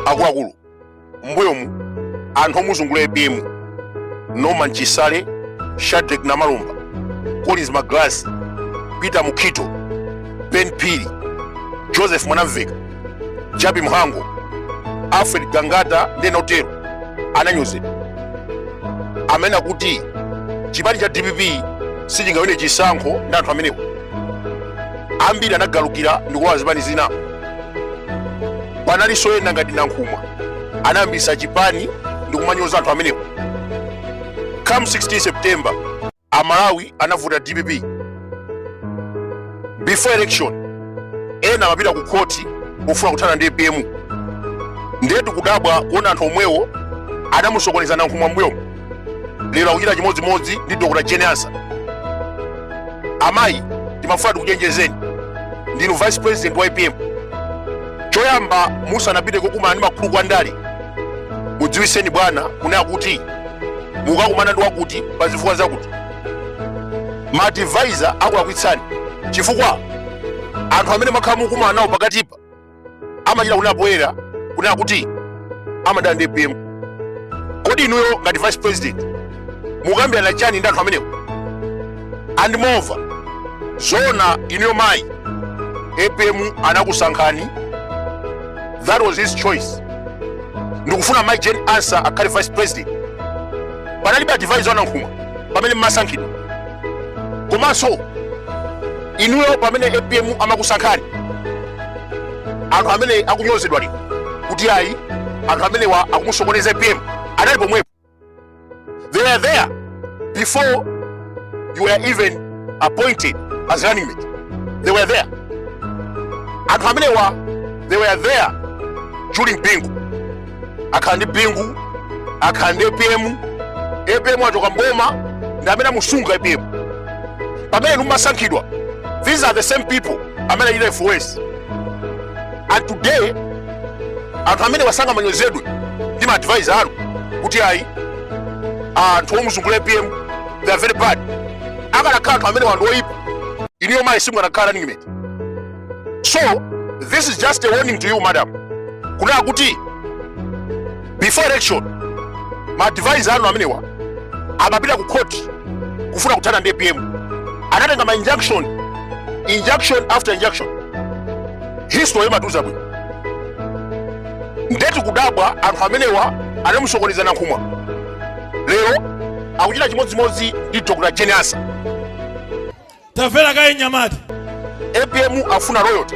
akuluakulu mbuyomu anthu omuzungula apm norman chisale shadreck namalomba collins magalasi peter mukhito ben phiri joseph mwanamveka jappie mhango alfred gangata ndi ena otero ananyozedwa amanena kuti chipani cha dpp sichingawine chisankho ndi anthu amenewo ambiri anagalukira ndikulowa zipani zina panalinso ena ngati nankhumwa anayambisa chipani ndikumanyoza anthu amenewo come 16 september amalawi anavota dpp before election ena amapita ku khoti kufuna kuthana ndi apm ndiye tikudabwa kuona anthu omwewo anamusokoneza nankhumwa mbuyomu lero akuchita chimodzimodzi ndi dr jane ansah amayi timafuna tikuchenjezeni ndinu vice president wa apm choyamba musanapite kokumana ndi makuluku a ndale mudziwiseni bwana kunena kuti mukakumana ndi wakuti pa zifukwa zakuti maadvisor akulakwitsani chifukwa anthu amene mwakhala mukumana nawo pakatipa amachita kunena poyera kunena kuti amadana ndi apm kodi inuyo ngati vice president mukambirana chani ndi anthu amenewo and moreover zona inuyo mayi apm anakusankhani that was his choice ndikufuna mayi jane ansah akhale vice president panalibe advisor wa nankhumwa pamene mmasankhidwa komanso inuyo pamene apm amakusankhani anthu amene akunyozedwa lero kuti ayi anthu amenewa akumusokoneza apm anali pomwepo they were there before you were even appointed as running mate they were there anthu amenewa they were there during bingu akhala ndi bingu akhala ndi apm apm achoka mboma ndi amene amusunga apm pamene inu mumasankhidwa these are the same people amene achita force and today anthu amenewa sangamanyozedwe ndi maadvisor anu kuti ayi anthu omuzungula apm they are very bad akanakhala anthu amenewa ndi oyipa inuyo mayi simukanakhala running mate so this is just a warning to you madam kunena kuti before election maadvisor anu amenewa amapita ku court kufuna kuthana ndi apm anatenga ma injunction injunction after injunction history imatiuza bwino nde tikudabwa anthu amenewa anamusokoneza nankhumwa lero akuchita chimodzimodzi ndi dr jane ansah tamvera kaye mnyamata apm afuna loyalty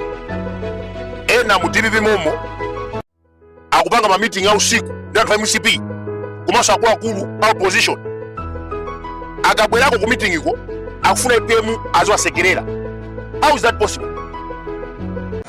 ena mu dpp momo akupanga ma meeting a usiku ndi anthu a mcp komanso akuluakulu a opposition akabwerako ku meeting iko akufuna apm aziwasekerera how is that possible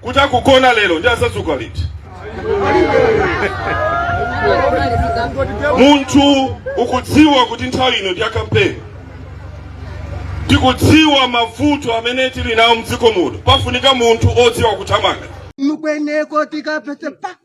kuti akagona lero ndiye azadzuka liti munthu ukudziwa kuti nthawi ino ndi ya kampeni tikudziwa mavuto amene tili nawo mdziko muno pafunika munthu odziwa kuthamanga mukweneko tikapese pa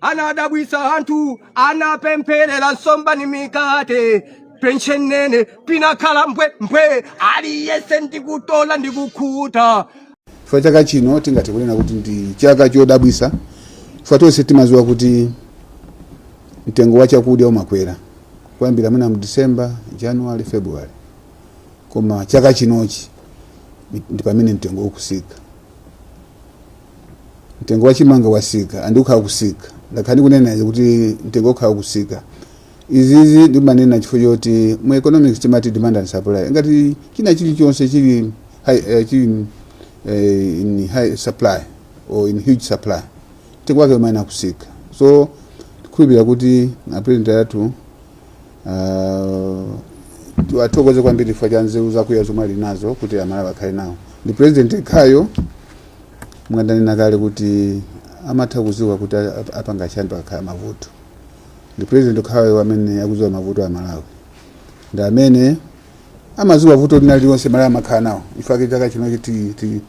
anadabwitsa anthu anapempherera nsomba ndi mikate mitanga nene pinakhala mbwe mbwe aliyense ndikutola ndikukhuta chifukwa chaka chino tingathe kunena kuti ndi chaka chodabwitsa chifukwa tonse timadziwa kuti mtengo wa chakudya umakwera kuyambira mwina mu december january february koma chaka chinochi ndi pamene mtengo ukusika mtengo wa chimanga wasika andi ukhala kusika ndakhala ndikunena izi kuti mtengo ukhala kusika izizi ndimanena chifukwa choti mu economics timati demand and supply ngati china chilichonse chili high, eh, chili eh, in high supply or in huge supply mtengo wake umayenera kusika so tikhulupirira kuti apresident athu ah, tiwathokoze kwambiri chifukwa cha nzeru zakuya zomwe ali nazo kuti amalawi akhale nawo ndi president yekhayo monga ndanena kale kuti amatha kuziwa kuti apanga chani pakakhala mavuto ndi president yekhayo amene akuziwa mavuto a malawi ndi amene amaziwa vuto lina lililonse malawi amakhala nawo nchifukwa chake chaka chinochi ti- ti-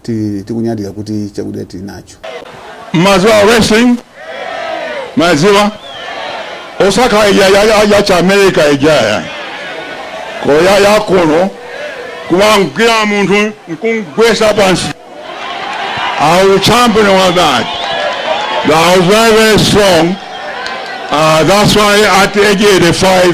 ti- tikunyadira kuti chakudya tili nacho Maziwa Wrestling mwadziwa osakhala ija ya- ya- ya cha america ijaya koma yakuno kumangwira munthu nkumugwesa pansi i was champion of that i was very very strong uh, that's why at age 85